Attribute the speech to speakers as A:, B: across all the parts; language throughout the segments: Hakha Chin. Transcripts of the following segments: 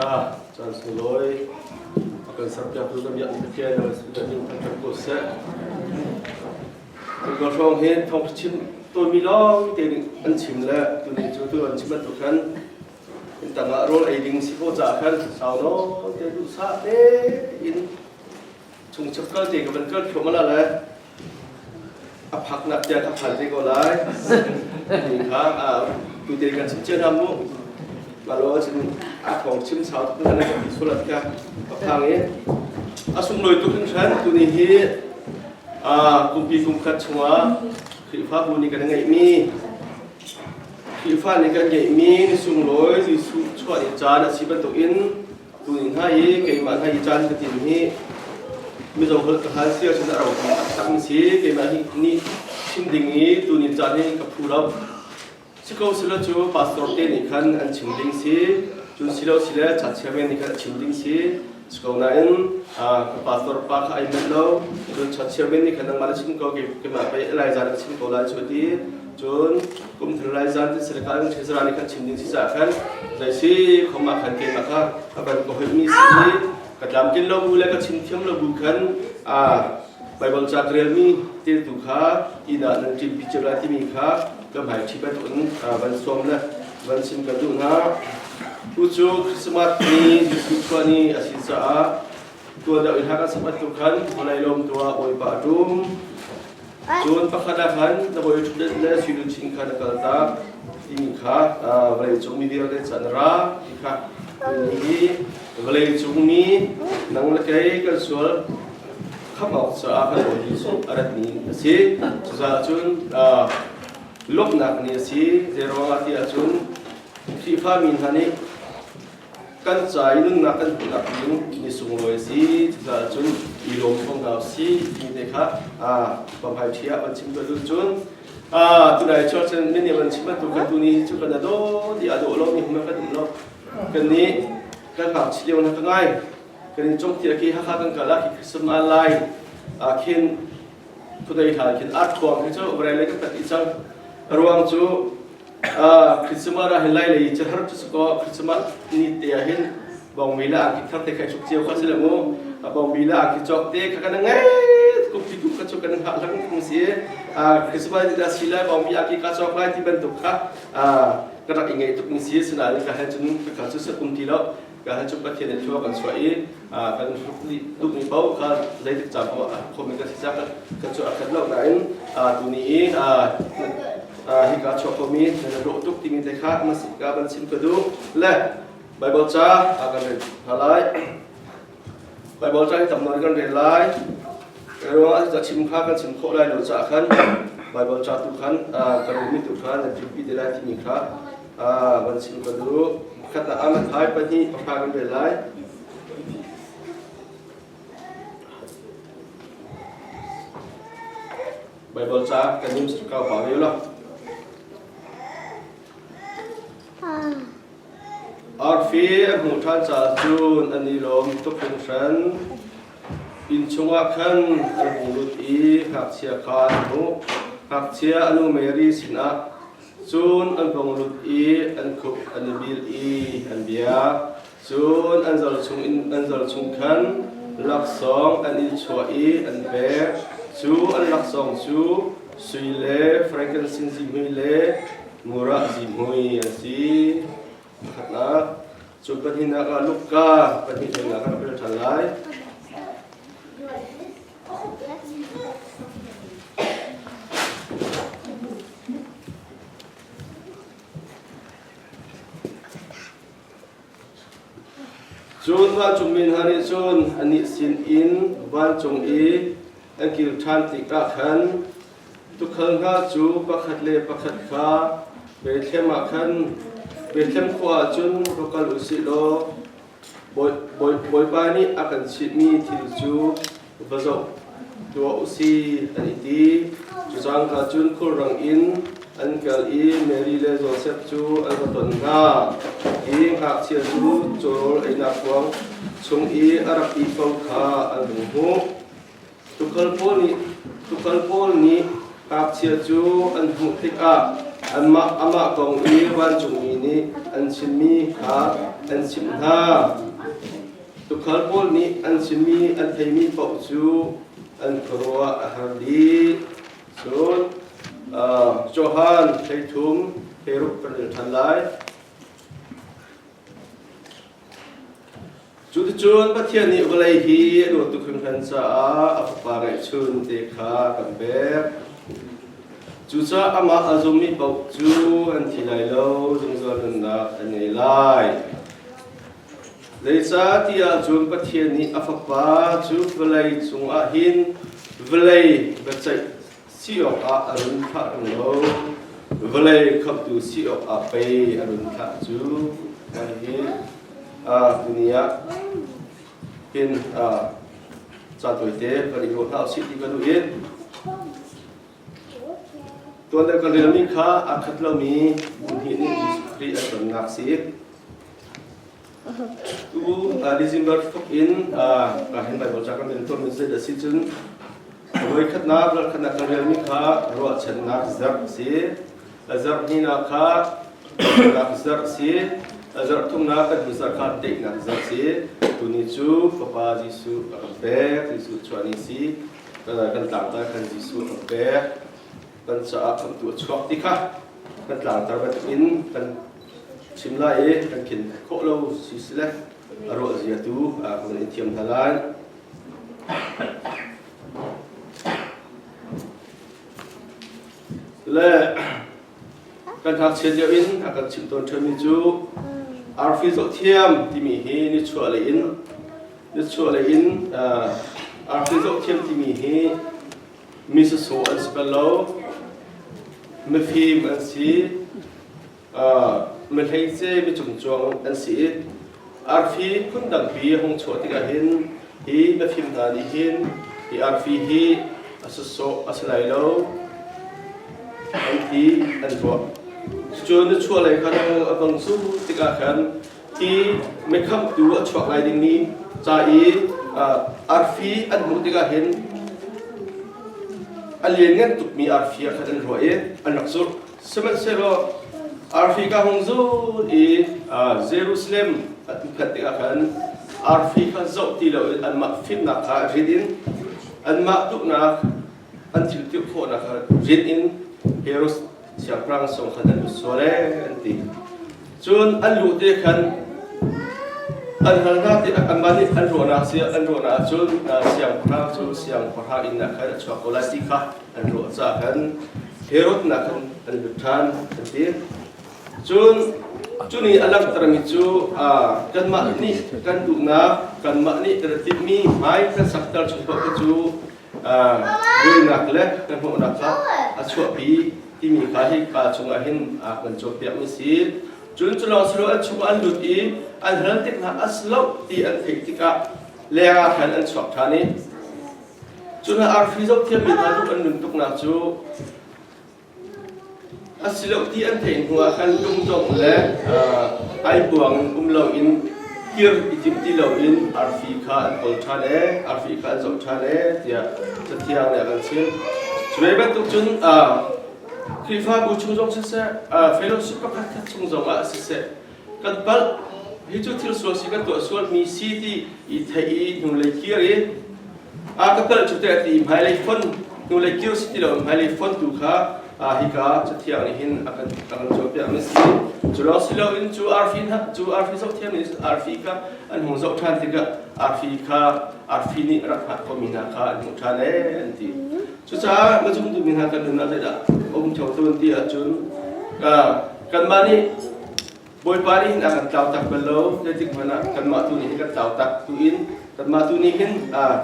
A: Caan sunglawi a kan serpiaktu na biak na fiai na si na ning thanh ko seh. Ka hrawng hi thong chim tawmi lawng te nih an chim le tu ning cu tu an chim an tu khan in tangah rawl ei ding si ko ca khan sau no te duh sa te in chung chap kal te ka van kal phiom ala le a phak nak tia ta phal te ko lai ni kha a tu te kan chim chen ham mu malo chin a thong chim sau tu na ka sulat ka ka phang e a sung loi tu kan shan tu ni hi a kumpi kumkhat chunga khrifa bu ni kan ngai mi khrifa ni kan ngai mi ni sung loi ji su chwa ni chan a si ban tuk in tu ni hna i keimah hna i caan ka tin hi mizo holh ka hal si ahcun a ro hi taktak in si keimah nih chim ding i tu ni caan hi ka phu lo si ko silo cu pastor te nih khan an chim ding si cun silo sile chatchia men nih khan a chim ding si si ko nain ka pastor pa kha ai melh lo cun chatchia men nih khan nangmah na chim ko keimah pei lai zan ka chim ko lai cu ti Cun kum thar lai zan tin serka in thei sara ni kan chim ding si ca khan zai si khom ah khan keimah kha a ban ka hoih mi si i ka tlam tin lo bu le ka chim thiam lo bu khan a Bible ca ka rel mi te tu kha i da nan ṭim pi chira ti mi kha ka hmai ṭhi ban un ban som le ban sim ka duh hna tu cu Christmas ni Jesuh khua ni a si caah tua deuh i hak a sapat tu khan holai lom tua oipa tum Cun pakhat ah khan na hawi ṭhutdenh le suiluchin kha na kaltak timi kha vawleicung mi vialte cu an ra ti kha hihi vawleicung mi nang le kei kan sual khamh awk caah kan hawi nih cun a ratmi a si. Cucaah cun lawmhnak ni a si. Zeiruangah tiah cun Khrihfa mi hna nih Kan ca i nunnak kan hmuhnak ding mi sunglawi si cucaah cun i lawm ko hna usih ti te kha paphaithia ah van chim tuah lu cun tunai church in min van chim bantuk kan tu nih cu kan a dawt i a dawh lo mi hum kan um lo kan nih kan ngakchia lio na ka ngai kan in congtir ki hakha kan kala ki krism an lai khin khudai hla khin art khuang khi cu urai le ka tat i cang ruang cu Christmas ah hin lai lei cu har cu sakaw Christmas ni te ah hin bongmi la aki thar te khai chuk cio kha sile mu bongmi la aki chok te kha kana ngai kup ti tu kha chu kana ha lang ning si Christmas ni da si lai bongmi aki ka chok lai ti bantuk kha ka rak ingai tuk ning si sina ni ka hel chun ka kha chu sa kum ti lo Ka hi cu Pathian in hlua kan chuah i kan duhmi paoh ka zeitik ca paoh a khawmi ka si cak ka cu a khat lo nain tuni i hika chuah khomi na dawh tuk timi te kha ka van chim ka duh le Bible ca kan rel hna lai Bible ca hi tam nawn kan rel lai ruangah ca chim kha kan chim khawh lai lo caah khan Bible ca tu khan kan ummi tu kha nan tlikpi te lai timi kha Ah, van chim ka duh. Khat ah amat hai pahnih pahra kan ve lai. Bible ca kan nim kau pa riu lo. Arfi a hmu ṭhan ca cun an i lawm tuk hringhran. Inn chungah khan an hung lut i ngakchia kha an hmuh. Ngakchia a nu Mary sinah Cun an hung lut i an khup an i bil i an biak. Cun an zal chung in an zal chung khan laksawng an i chuah i an pek. Cu an laksawng cu sui le frankincense zihmui le murah zihmui an si. Pakhatnak, cu pahnihnak ah Luka pahnih hlengah kan rel ṭhan lai. Cun vancung mi hna nih cun anih sin in vancung i a kil ṭhan tikah khan tuukhal hna cu pakhat le pakhat kha Bethlehem ah khan Bethlehem khua ah cun va kal u sih law Bawipa nih a kan chihmi thil cu va zoh tuah u si an i ti. Cucaan hna cun khulrang in an kal i Mary le Josef cu an va ton hna i ngakchia cu cawl einak kuang chung i a rak ih ko kha an hung hmuh. Tukal pawl nih, tukal pawl nih ngakchia cu an hmuh tikah anmah amah kong i vancungmi nih an chimmi kha an chimh hna. Tukhal pawl nih an chimmi an theimi paoh cu an khuaruah a har dih. Cun Johan thleithum, kheiruk ka ril ṭhan lai. Cuticun Pathian nih vawlei hi a luat tuk hringhran caah a Fapa ngeihchun te kha kan pek. Cucaah amah a zummi paoh cu an thi lai lo, zungzal nunnak an ngei lai. Zeicah ti ahcun Pathian nih a Fapa cu vawlei cungah hin vawlei biaceih si awkah a run thlah tung lo, vawlei khamhtu si awkah pei a run thlah cu, kan hi ni ah hin ca tawite kan i ruah hna usih ti kan duh i tuan le kan relmi kha a khat lomi hnih nih Jesuh Khrih a tonnak si. Tu December thuk in ka hin bai bocak kan tuan min zai si cun voi khat na ral khat na ka rel mi kha ruah chen na zar si azar ni na kha na zar si azar thung na kan ni zar kha te na zar si tu ni chu papa Jesu a pek Jesu chuani si kan kan tlang ta kan Jesu a pek kan cha kan tu chuak ti kha kan tlang tar ba in kan Chim lai i kan khin khawh lo si sile a ruah zia tu kan i thiam hna lai. Le kan ngakchia lio in a kan chim tawn ṭhanmi cu arfi zohthiam timi hi nichuah lei in nichuah lei in arfi zohthiam timi hi misasawh an si bal lo mifim an si mihleince micungcuang an si i arfi phun tampi hong chuah tikah hin hi mifim hna nih hin hi arfi hi a sasawh a si lai lo an ti an tuah cucu na chuah lei khan a bang cu tikah khan hi mikhamtu a chuak lai dingmi ca i arfi an hmuh tikah hin a lianngan tukmi arfi ah khan an ruah i an rak zulh sihmanhsehlaw arfi ka hung zul i Jerusalem an phet tikah khan arfi kha zoh ti loin anmah fimnak kha rit in anmah tuknak an thil tirh khawhnak kha rian in Herods siangpahrang sung kha an lut sual ee an ti cun an luh te khan an halnak te anmah nih an ruahnak an ruahnak cun siangpahrang cu siangpahrang inn khan a chuak ko lai ti kha an ruah caah khan Herod nak khan an lut ṭhan an ti cun cu ni a langhtermi cu kanmah nih kan duhnak kanmah nih kan timhmi hmai kan sakter chung paoh cu buainak le kan hmuhnak kha a chuahpi timi kha hi ka chungah hin kan cawnpiak mi si cun cu lawng si lo an chungah an lut i an hal tik hna a si lo ti an theih tikah lengah khan an chuak ṭhan i cu hna arfi zohthiam mi hna tuk an nun tuknak cu A si lo ti an theih hnu ah kan lungdongh le ai buang in um lo in kir i timh ti lo in arfi kha an kawl ṭhan e arfi kha an zoh ṭhan e tiah cathiang nih a kan chimh. Cu ve bantuk cun Khrihfabu chung zong siseh, fellowship pakhat khat chung zong ah siseh, kan palh hi cu thil sual si kan tuah sualmi si ti i theih i hnulei kir i a ka palh cu teh ti hmailei fon hnulei kir si ti lo hmailei fon tu kha hika cathiang nih hin a kan a kan cawnpiak mi si cu lawng si loin cu arfi cu arfi zoh thiam nih arfi kha an hung zoh ṭhan tikah arfi kha arfi nih rak hngak khomi hna kha an hmuh ṭhan ee an ti Cucaah na zumtumi hna kan nunah zeidah a um ṭheo tawn ti ahcun ka kanmah nih Bawipa nih hin a kan tlau tak bal lo zeitik hmanh ah kanmah tu nih hin kan tlau tak tiin kanmah tu nih hin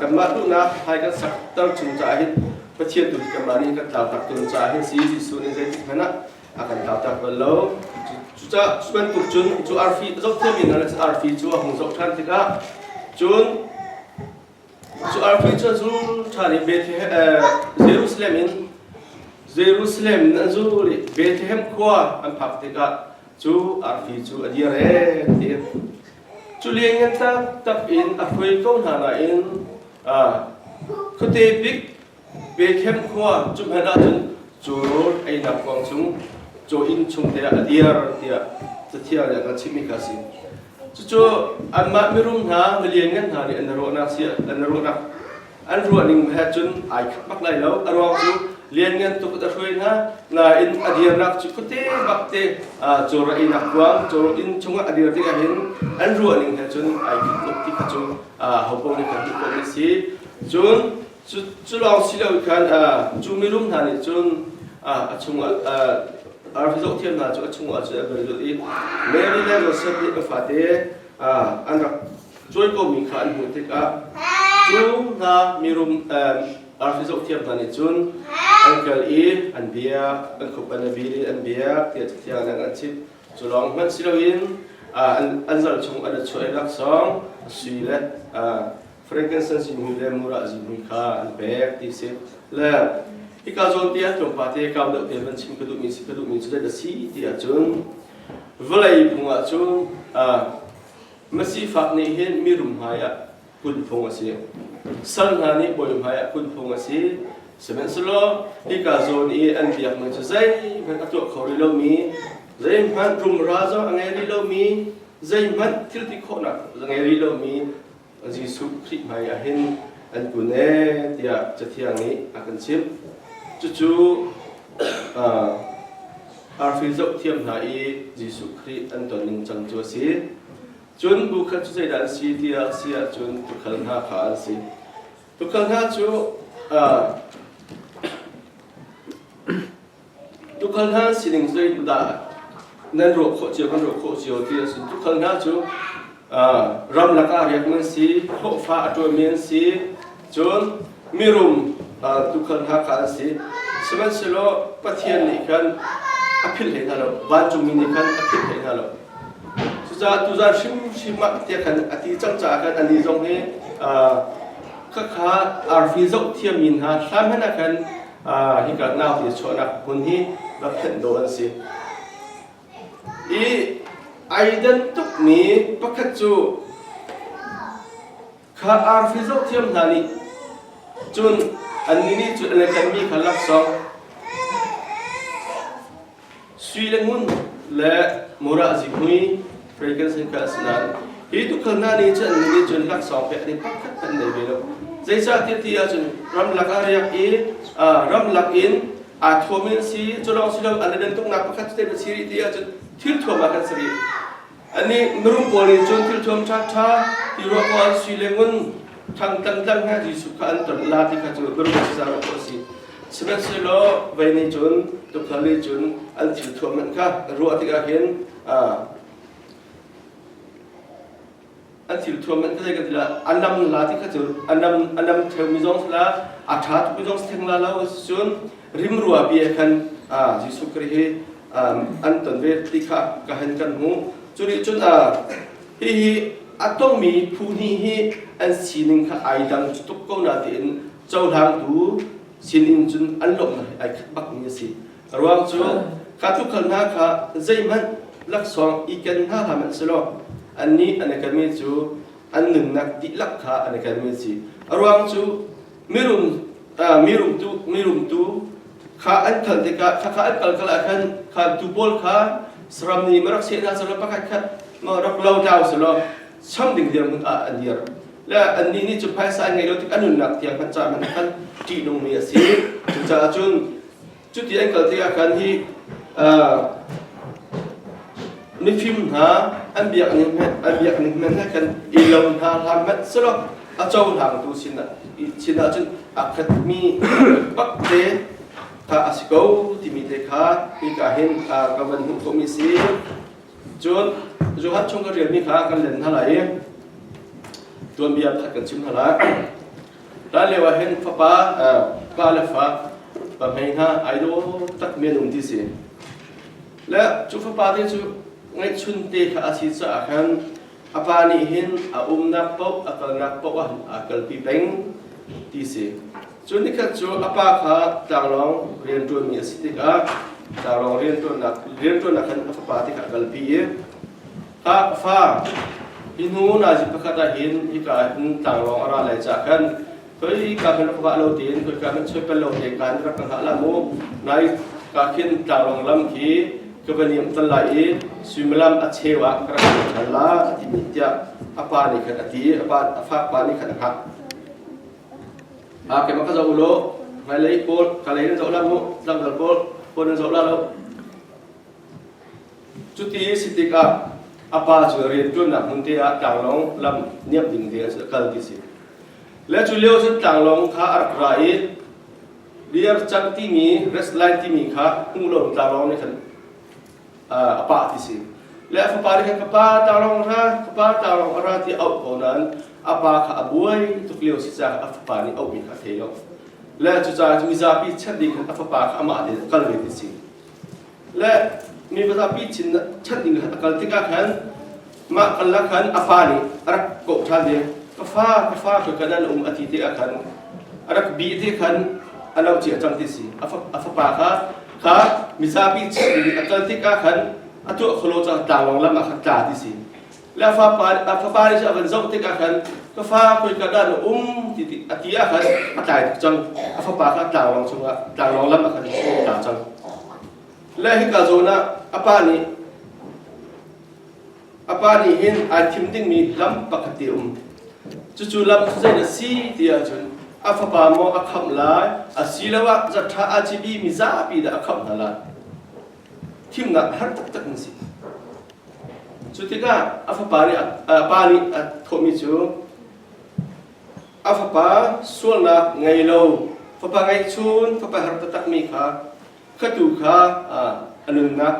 A: kanmah duhnak hai kan sakter chung caah hin Pathian tu hi kanmah nih kan tlau tak tawn caah hin si Jesuh nih zeitik hmanh ah a kan tlau tak bal lo cucah cu bantuk cun cu arfi zohthiam in arfi cu a hung zoh ṭhan tikah cun Cu arfi cu a zul ṭhan i Jerusalem in Jerusalem in an zul i Bethlehem khua an phak tikah cu arfi cu a dir ee, a ti. Cu lianngan taktak in a hruai ko hna nain khuate bik Bethlem khua cu hmanh ahcun cawrawl einak kuang chung caw inn chung te ah a dir tiah cathiang nih a kan chimhmi kha a si. Cucu anmah mirum hna, milianngan hna nih an ruahnak si an ruahnak an ruah ning he cun ai khat bak lai lo. A ruang cu lianngan tuk a hruai hna nain a dirnak cu khuate bakte cawra einak kuang cawrawl inn chungah a dir tikah hin an ruah ning he cun ai khat tuk ti kha cu hopoh nih kan hmuh khawhmi a si. Cun Cu lawng si lo khan cu minung hna nih cun a chungah arfi zohthiam hna cu a chungah cun an van zulh i Mary le Josef nih ka fate an rak cuaikomi kha an hmuh tikah cu hna mirum arfi zohthiam hna nih cun an kal i an biak an khuppan a bil i an biak tiah Cathiang nih an cit cu lawng hmanh si loin an zal chung an a chuah i laksawng sui le frankincense zihmui le murah zihmui kha an pek ti si le hika zawn ti ah tlungpa te kau deuh te van chim ka duhmi si ka duhmi cu dat a si ti ahcun vawlei phung ah cu masifak nih hin mirum hmai ah pun phung a si sal hna nih bawi hmai ah pun phung a si sihmanhsehlaw hika zawn i an biak ning cu zeihmanh a tuah kho rih lomi zeihmanh rumra zong a ngei rih lomi zeihmanh thil ti khawhnak a ngei rih lomi Jesuh Khrih hmaiah hin an kun ee tiah Cathiang nih a kan chimh. Cucu arfi zoh thiam hna i Jesuh Khrih an ton ningcang cu a si. Cun bu khat cu zeidah an si tiah a si ahcun tukhal hna kha an si. Tukhal hna cu Tukhal hna sining zeitu dah nan ruah khawh cio kan ruah khawh cio ti a si. Tukhal hna cu ramlak ah riak nan si, hlawhfa a ṭuanmi an si, cun mirum tukhal hna kha an si. Sihmanhsehlaw Pathian nih khan a philh hlei hna lo, vancungmi nih khan a philh hlei hna lo. Cucaah tuzan hrimhrim ah tiah khan a ti cang caah khan anih zong hi khakha arfi zoh thiammi hna hlan hmanh ah khan hika nauti chuahnak hmun hi va phanh dawh an si i ai den tukmi pakhat cu kha arfi zoh thiam hna nih cun annih nih cun an i kanmi kha laksawng Sui le ngun le murah zihmui rei kan sei ka a si nain hi tukhal hna nih cun annih nih cun laksawng pek ni pakhat kan nei ve lo. Zeicahtiah ti ahcun ramlak ah riak i ramlak in aa thuam in si culawng si lo an le tuk nak pakhat te va si rih ti ahcun thil thuam ah kan si rih. Anih mirum pawl nih cun thil thuam ṭhaṭha ti ruah awk an si le ngun thangtang tlang he Jesuh kha an ton la ti kha cu mirum a si zaa ruah awk a si. Sihmanhsehlaw vei nih cun tukforh nih cun an thil thuam hmanh kha ruah tikah hin an thil thuam an tlai ka tila an lam la ti kha cu an lam an lam theu mi zong sala a tha tuk mi zong stheng la lo cun rim rua bia khan Jesuh Christ hi an ton ve ti kha ka han kan hmu cu nih cun hi hi a tong mi phu ni hi an sining kha ai dang tuk ko na tiin cohlang tu sinin cun an lomh ai khat bak mi a si A ruang cu kha thukhal hna kha zeihmanh laksawng i ken hna hram an si lo. Annih an i kenmi cu an nunnak dihlak kha an i kenmi a si. A ruang cu mirum mirumtu mirumtu kha an kal tikah khakha an kal kal ah khan khantu pawl kha saram nih ma rak seh hna selaw pakhat khat ma rak lo dau selaw cham ding dirhmun ah an dir. Le annih nih cu phaisa an ngeih lo tik an nunnak tiang khan ca hmanh khan ṭihnungmi a si. Cucaah cun Cuti an kal tikah khan hi mifim hna an biak ning an biak ning men he khan i lo hna hlam hmanh selaw a cohlangtu sinah sinah cun a khatmi pak te kha a si ko timi te kha hika hin ka van hmuh khomi si cun Johan chung ka rialmi kha kan len hna lai i tuanbia pakhat kan chim hna lai Hlan lio ah hin fapa pa le fa pa hmei hna ai daw tak men um ti si. Le cu fapa te cu ngeihchun te kha a si caah khan a pa nih hin a umnak paoh a kalnak paoh ah a kalpi peng ti si. Cu nikhat cu a pa kha tlanglawng rianṭuanmi a si tikah tlanglawng rianṭuannak rianṭuannak khan a fapa tikah a kalpi i Tah fa, hi hnu nazi pakhat ah hin hika ah hin tlanglawng a ra lai cah kan koi ka hin va lo tin koi ka hin choipal lo te kan rak ka hlah la mu nai ka khin tlanglawng lam khi ka va niam tal lai i suimalam a chewa ka rak thal la a ti mi tiah a pa nih khan a ti a pa a fak pa nih khan a hak a ke maka zo lo ngai lei paul ka lei na zo la mu tlang dal paul paul na zo la lo Cuti a si tikah a pa cu a rianṭuannak hmunte ah tlanglawng lam niamh ding te a kal ti si. Le cu lio cun tlanglawng kha a rak ra i beer cang timi restline timi kha hmu lo in tlanglawng nih khan a pah ti si. Le a fapa nih khan fapa tlanglawng ra, fapa tlanglawng a ra ti auh ko nain a pa kha a buai tuk lio si caah a fapa nih auhmi kha a thei lo. Le cucaah cu mizapi chat ding khan a fapa kha amah tein a kal ve ti si. le mi vazapi chin chan ding a kal tikah khan mah kalnak khan a fa nih a rak kawh ṭhan ve ka fa ka fa ka kan an um a ti te ah khan a rak bi te khan a lo cia cang ti si a fapa kha kha mizapi chin ding a kal tikah khan a tuah kholo cang tlangwang lam ah khan tla ti si le fapa a fapa nih a van zoh tik ah khan ka fa koi ka dan um ti ti a ti ah khan a tlai tik cang a fapa kha tlanglong chungah tlanglong lam ah khan tla cang le hika zawn ah a pa nih a pa nih hin ai thim dingmi lam pakhat te um cucu lam cu zein a si ti ahcun a fapa maw a khamh lai a si lo ah zaṭha a cibi mi zapi dah a khamh hna lai thimnak a har taktak na si. Cu tikah a fapa nih a pa nih a thawhmi cu a fapa sualnak ngei lo fapa ngeihchun fapa har taktakmi kha ka tu kha a nunnak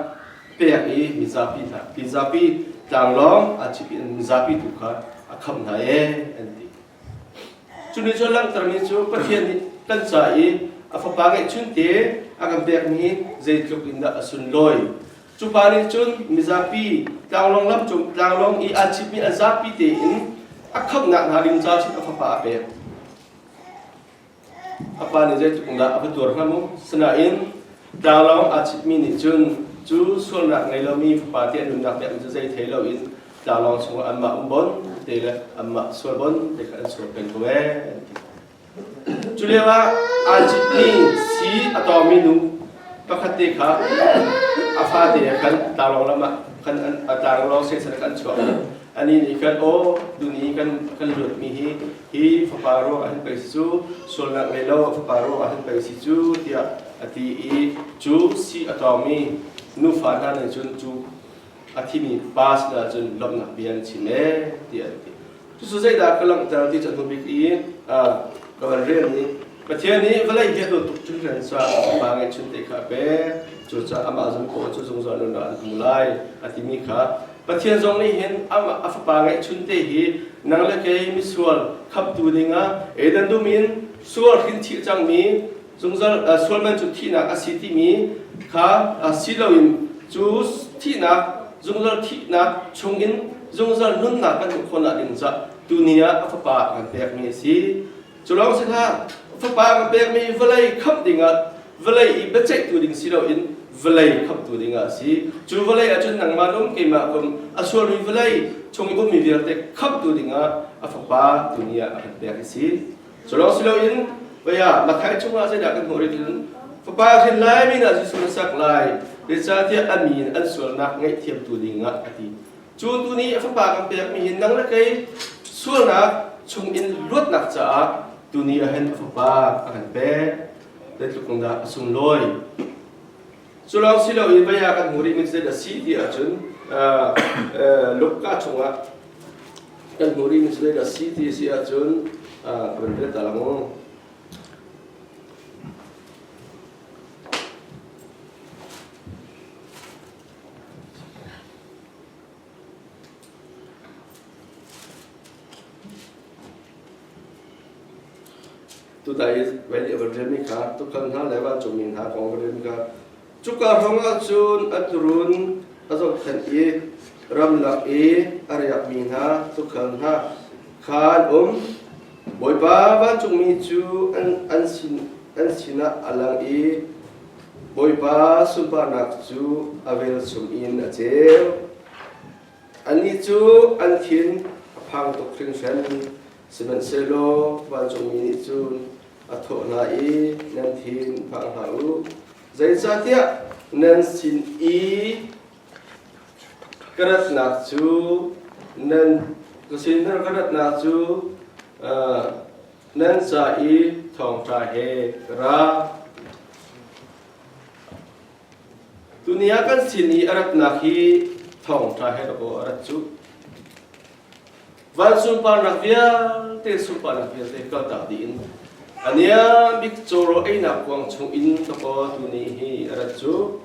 A: pek i mizapi hna mizapi tlanglawng a cipi mizapi tu kha a khamh hna e an ti Cu ni cu langhtermi cu Pathian nih kan ca i a Fapa ngeihchun te a kan pekmi zeitluk in dah a sunlawi. Cu pa nih cun mizapi tlanglawng lam cung tlanglawng i an chipmi an zapi tein a khamhnak hna rimca cun a Fapa a pek. a pa nih zeitluk in dah a va tuar hnga mu. Sinain tlanglawng aa citmi nih cun cu sualnak ngei lomi fapa te an umnak biakinn cu zei thei loin tlanglawng chungah anmah um bon te le anmah sual bon te kha an sual peng ko ee. an ti. Cu lio ah aa citmi si a tawmi nu pakhat te kha a fate he khan tlanglawng lam ah khan an a tlanglawng sesan khan chuah. Anih nih khan aw duni kan kan luatmi hi Hi fapa ruang an pei si cu sualnak ngei lo fapa ruang ah an pei si cu tiah a ti i cu si a tawngmi nufa hna nih cun cu a thimi pa sinah cun lawmhnak bia an chim ee tiah an ti. Cucu zeidah ka langhter ti cu a hnubik i ka van rel i Pathian nih vawlei hi a dawt tuk cun kan sa pa ngeihchun te kha a pek cucaah amah zong kawh cu zungzal nun ah an hmu lai a timi kha Pathian zong nih hin amah a fapa ngeihchun te hi nang le kei misual khamtu dingah Eden dum in sual hrinthih cangmi zungzal sual man cu thihnak a si timi kha si loin cu thihnak zungzal thihnak chungin zungzal nunnak kan hmuh khawh nak ding tu ni ah a fapa kan pekmi a si Culawng si hlah, fapa ka pekmi vawlei khamh dingah vawlei i biaceihtu ding si loin vawlei khamhtu dingah a si. Cu vawlei ahcun nangmah le um keimah kum a sualmi vawlei chung i ummi vialte khamhtu dingah a Fapa tu ni ah a kan pek a si. Culawng si loin vaya Matthai chungah zeidah kan hmuh rih cun Fapa hrin lai mi hna Jesuh na sak lai, zeicahtiah a mi in an sualnak ngaihthiamtu dingah a ti. Cu tu ni a fapa kan pekmi in nang le kei sualnak chung in luatnak caah tuni ahin a fapa a kan pek zeitluk kong dah a sunglawi culawng si lo in vaya kan hmu rih mi zeid a si ti ahcun luka chungah kan hmu rih mi zeid a si ti si ahcun ka van vet ta lang Tutai veli avan remi kha tukhan hna le vancungmi hna kong va rem kha cuka hrawngah cun an run a zohkhenh i ramlak i a riakmi hna tukhal hna khan um Bawipa vancungmi cu an, an, sin, an sinah a lang i Bawipa sunparnak cu a vel chung in a ceu. Annih cu an thin a phang tuk hringhran, sihmanhsehlaw vancungmi nih cun a thawh hna i, Nan thin phang hlah u. Zeicahtiah nan sin i ka ratnak cu nan ka sinah ka ratnak cu Nan ca i thawngṭha he ka ra. Tuni ah kan sin i a ratnak hi thawngṭha he lakaw a rat cu. Vancung parnak vialte sunparnak vialte kaltak dih in ania bik cawro einak kuang chung in lakaw tuni hi a rat cu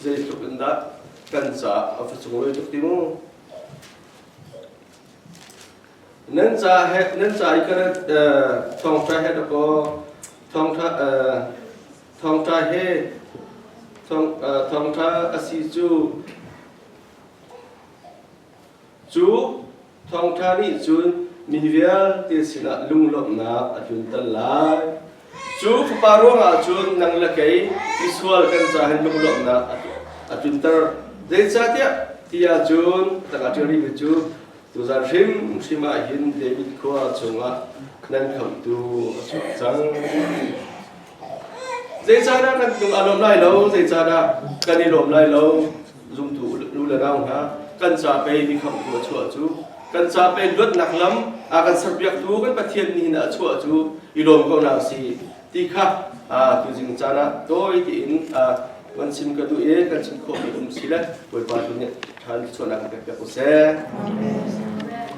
A: zeitluk in dah kan caah a va sunglawi tuk ding. Nan ca he nan ca i ka thawngṭha he na kaw thawngṭha thawngṭha he thawngṭha a si cu cu thawngṭha nih cun mi vialte sinah lunglawmhnak a tlunter lai. Cu fapa ruangah cun nang le kei misual kan ca hin lungluamnak a tlunter. Zeicahtiah ti ahcun tangah ṭial rihmi cu tuzan hrimhrim ah hin David khua chungah nan khamhtu a chuak cang. Zeicahdah nan hnung a lawm lai lo? Zeicahdah kan i lawm lai lo? zumtu nu le nau hna kan ca pei mikhamhtu a chuah cu kan ca pei luatnak lam a kan serpiaktu kan Pathian nih hin a chuah cu i lawm ko na si ti kha tu jing caan ah tawi tiin kan chim ka duh i kan chim khawhmi um si le Bawipa tu nih ṭhan chuahnak kan pek usih.